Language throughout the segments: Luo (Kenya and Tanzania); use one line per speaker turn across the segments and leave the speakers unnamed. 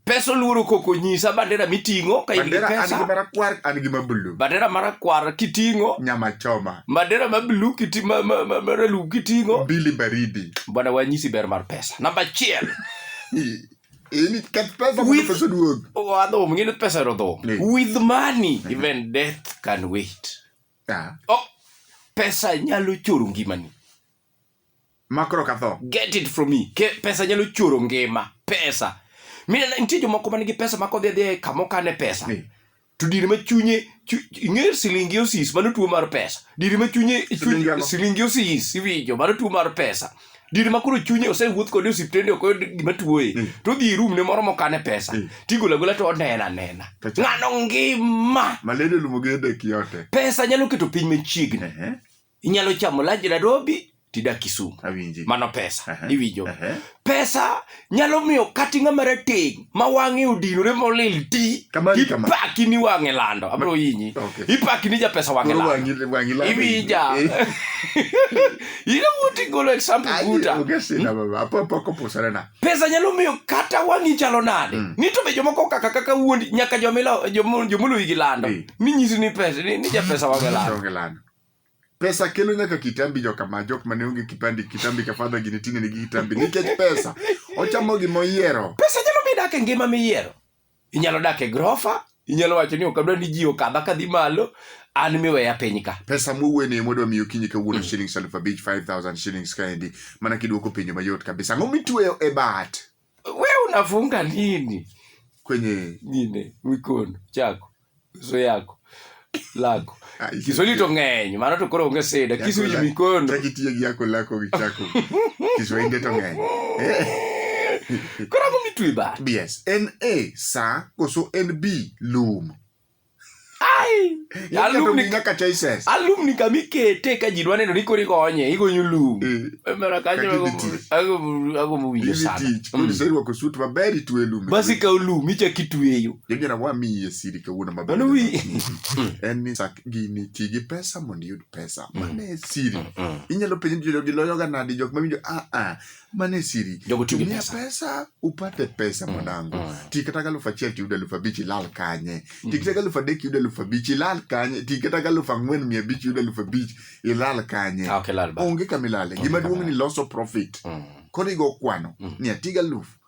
pesa oluoro koko nyisa bandera miting'o ka in gi bandera an gi pesa marakwar
an gi mabulu bandera marakwar
kiting'o nyama choma
bandera ma blue
kiti ma ma ma ma ralum kiting'o mbili baridi
bwana wanyisi ber
mar pesa namba achiel
I- ini keth pesa mondo With- pesa duog wadhum ngine pesa
rodhum Ni. with money even death can wait Ah, oh, pesa nyalo choro ngimani
Makro ka tho. Get it from me. Ke,
pesa nyalo choro ngima. Pesa. Mina nitie jomoko man gi pesa ma kodhi adhi e kama okane pesa. Ni. To dir ma chunye chu- ing'eyo silingi osis mano tuo mar pesa. Dir ma chunye chu- Silingi ang'o? silingi osis iwinjo mano tuo mar pesa. Dir ma koro chunye osewuoth kode e osiptende ok oyud gima tuoye. Mm. To odhi e room ne moro mokane pesa. Mm. Tigolo agola to onena anena. To cha- Ng'ano ngima. Malendo lumo gi
dek yote. Pesa nyalo keto piny
machiegni. Ehe. inyalo chamo lunch Nairobi tidak Kisumu. Awinji. Mano pesa. Aha. Iwinjo. Aha. Pesa nyalo miyo kati ng'ama rateng' ma wang'e odinore molil ti. Kama ni kama. Ipaki ni wang'e lando. Abiro yinyi. Okay. Ipaki ni japesa wang'e Koro lando. wang'i wang'i lando. Iwinja. Eh, You know what you golo example ai, buta. onge sina baba. Apo apo koposana na. Pesa nyalo miyo kata wang'i chalo nade. Mm. Ni to be jomoko kaka kaka wuondi nyaka jomila jomo- jomoluwi gi lando. Eh. Ni nyisi ni pesa ni, ni japesa wang'e lando. Onge lando. pesa
kelo nyaka kitambi joka ma jok mane onge kipandi kitambi ka fadha gini tine nigi kitambi nikech pesa ochamo gima oyiero pesa nyalo mi dak e ngima
miyiero inyalo dak e grofa inyalo wacho ni okadwa ni ji okadha kadhi malo an miweya piny ka pesa mowene ema odwa
miyo kinyi kawuono shillings aluf abich 5000 shillings kaendi mana kiduoko penjo mayot kabisa ang'o mitweyo e bat We unafunga
nini kwenye
nini
mikono chako uso yako lako Kiswahili to ng'eny mano to koro onge sida kisuji mikono takitiyo gi yako lako
gi chako Kiswahili to ng'eny
koro ang'o mitwe ba yes en a
sa koso en b lum alumni kama ikete ka ji dwa
neno ni koro igonye igonyo lum agombo winjo sanaserwako sut
maber itwe lum bas ikawo lum ichak
itweyo jojana wamiye
siri kawuono maber
en ni
gini ti gi pesa mondo iyud pesa mane siri inyalo penjo jodogi loyoga nadi jok mawinjo aa mane siri tumia pesa. pesa upate pesa mm, mwanangu mm. tikataka elfu achiel tiyudo elfu abich ilal kanye mm. tikataka elfu adek yudo elfu abich ilal kanye tikataka elfu ang'wen mia abich yudo elfu abich ilal kanye ah, okay, onge kamilale gima duong' ni loso profit mm. koro igo kwano mm. ni atiga elfu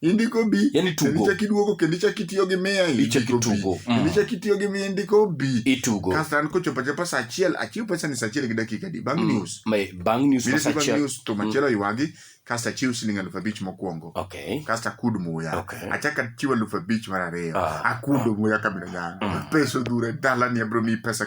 indiko bi yani tugo ichak iduogo
kendo ichak
itiyo gi mia ichak itugo mm. kendo
ichak itiyo gi mia
indiko bi itugo kasto an
kochopo achopo
saa achiel achiw pesa ni saa achiel gi dakika di bang mm. news bang news pesa
achiel news to machielo mm. ywagi
kasto achiw siling alufu abich mokwongo okay. kasto akud muya okay. achak achiw alufu abich mar ariyo ah. akudo ah. muya kabila yangu mm. pesa odhure dalani abiro miyi pesa